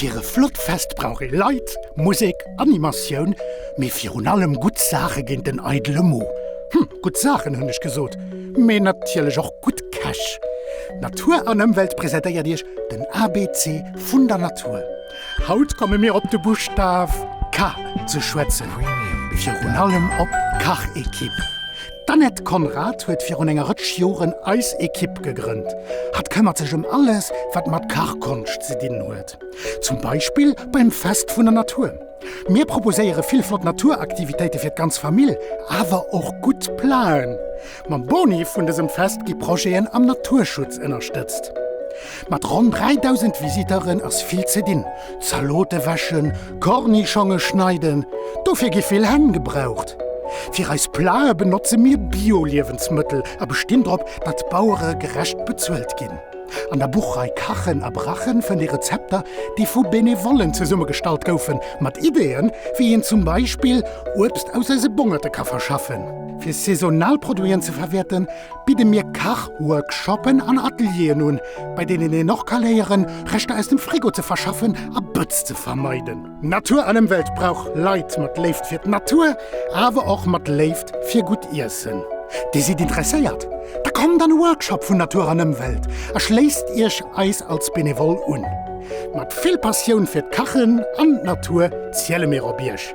Fir e flott Fest brauch ee Leit, Musek, Animatioun, mee virun allem gutt Saache géint den eidele Mo. Hm, gutt Saachen hunn ech gesot, mee natierlech och gutt Käch. Natur an Ëmwelt presentéiert Iech den abc vun der Natur. Haut komme mir op de Buschtaf K ze schwätzen, virun allem op d'Kachekipp. D'Annette Conrad huet virun enger Rëtsch Joren eis Ekipp gegrënnt. Hatt këmmert sech ëm alles, wat mat Kachkonscht ze dinn huet. Zum Beispill beim Fest vun der Natur. Mir proposéiere vill flott Naturaktivitéite fir d'ganz Famill, awer och gutt Plaën. Mam Boni vun dësem Fest gi Projeten am Naturschutz ënnerstëtzt. Mat ronn 3.000 Visiteuren ass vill ze dinn, Zalote wäschen, Kornischonge schneiden, dofir gi vill Hänn gebraucht. Fir eis Plate benotze mir Bio-Liewensmëttel a bestinn drop, datt d'Bauere gerecht bezuelt ginn. An der Buchrei Kachen a Brachen fënnt ee Rezepter, déi vu Benevollen zesummegestallt goufen, mat Ideeën, wéi een zum Beispill Uebst aus eise Bongerte ka verschaffen, fir saisonal Produiten ze verwäerten, bidde mir Kachworkshoppen an Atelieren un, bei deenen een och ka léieren, Reschter aus dem Frigo ze verschaffen a Bëtz ze vermeiden. Natur an Ëmwelt brauch Leit mat Léift fir d'Natur, awer och mat Léift fir gutt Iessen. Dir sidd interesséiert? Da kommt an e Workshop vun Natur an Ëmwelt a schléisst Iech eis als Benevole un. Mat vill Passioun fir d'Kachen an d'Natur ziele mir op Iech!